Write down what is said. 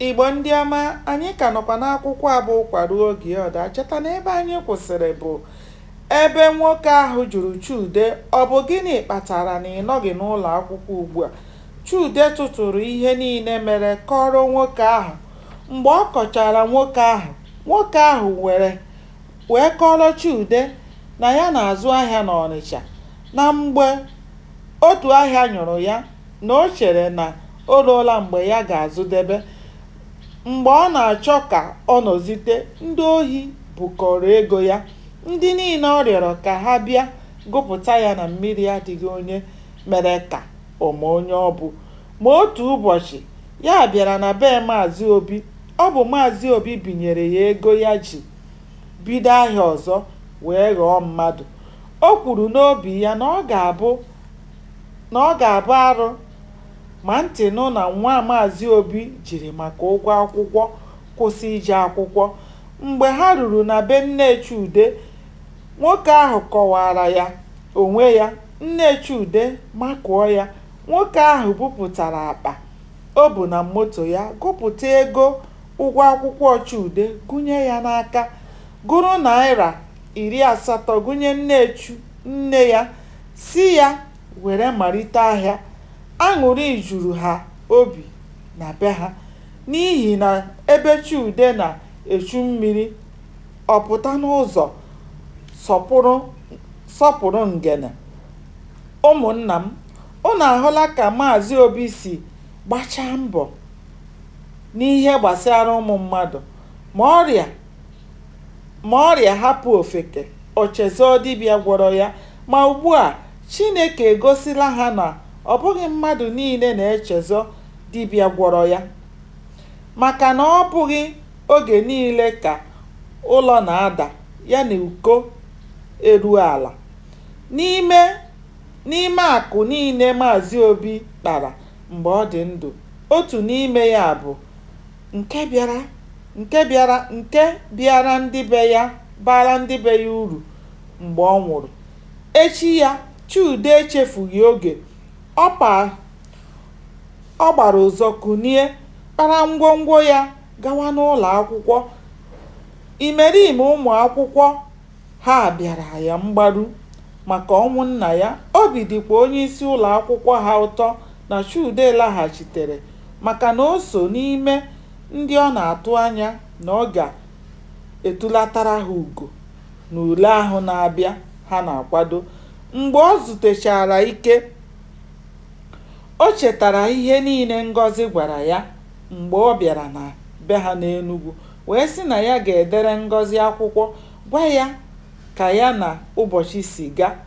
Igbo ndị ọma, anyị ka nọkwa n'akwụkwọ a bụ Ụkwa Ruo Oge Ọ Daa. Cheta na ebe anyị kwụsịrị bụ ebe nwoke ahụ jụrụ Chude, ọ bụ gịnị kpatara na ị nọghị n'ụlọ akwụkwọ ugbu a? Chude tụtụrụ ihe niile mere kọrọ nwoke ahụ. Mgbe ọ kọchara nwoke ahụ, nwoke ahụ were wee kọrọ Chude na ya na-azụ ahịa n'Ọnịcha na mgbe otu ahịa nyụrụ ya na o chere na O ruola mgbe ya ga-azụdebe. Mgbe ọ na-achọ ka ọ nọzite, ndị ohi bukọọrọ ego ya. Ndị niile ọ rịọrọ ka ha bịa gụpụta ya na mmiri adịghị onye mere ka ọ ma onye ọ bụ. Ma otu ụbọchị, ya bịara na be Maazị Obi. Ọ bụ Maazị Obi binyere ya ego ya ji bido ahịa ọzọ wee ghọọ mmadụ. O kwuru n'obi ya na ọ ga-abụ arụ Ma ntị nụ na nwa Maazị Obi jiri maka ụgwọ akwụkwọ kwụsị ije akwụkwọ. Mgbe ha ruru na be nne Chude, nwoke ahụ kọwaara ya onwe ya. Nne Chude makụọ ya, nwoke ahụ bupụtara akpa o bu na moto ya gụpụta ego ụgwọ akwụkwọ Chude gụnye ya n'aka, gụrụ naịra iri asatọ gụnye nne Chu nne ya sị ya were malite ahịa, aṅụrị juru ha obi na be ha n'ihi na ebe Chude na-echu mmiri, ọ pụta n'ụzọ sọpụrụ ngene. Ụmụnna m, unu ahụla ka Maazị Obi si gbachaa mbọ n'ihe gbasara ụmụ mmadụ, ma ọrịa Ma ọrịa hapụ ofeke, o chezọọ dibịa gwọrọ ya. Ma ugbu a, Chineke egosila ha na ọ bụghị mmadụ niile na-echezọ dibịa gwọrọ ya. Maka na ọ bụghị oge niile ka ụlọ na-ada ya na uko eruo ala. N'ime n'ime akụ niile Maazị Obi kpara mgbe ọ dị ndụ, otu n'ime ya bụ nke nke bịara ndị be ya baara ndị be ya uru mgbe ọ nwụrụ echi ya Chude echefughị oge ọ gbara ụzọ kunie kpara ngwongwo ya gawa n'ụlọ akwụkwọ imerime ụmụ akwụkwọ Ha bịara ya mgbaru maka ọnwụ nna ya, obi dịkwa onyeisi ụlọakwụkwọ ha ụtọ na Chude laghachitere maka na o so n'ime ndị ọ na-atụ anya na ọ ga-etulatara ha ugo n'ule ahụ na-abịa ha na-akwado. Mgbe o zutechara ike, o chetara ihe niile Ngọzi gwara ya mgbe ọ bịara na be ha n'Enugwu wee sị na ya ga-edere Ngọzi akwụkwọ gwa ya ka ya na ụbọchị si ga.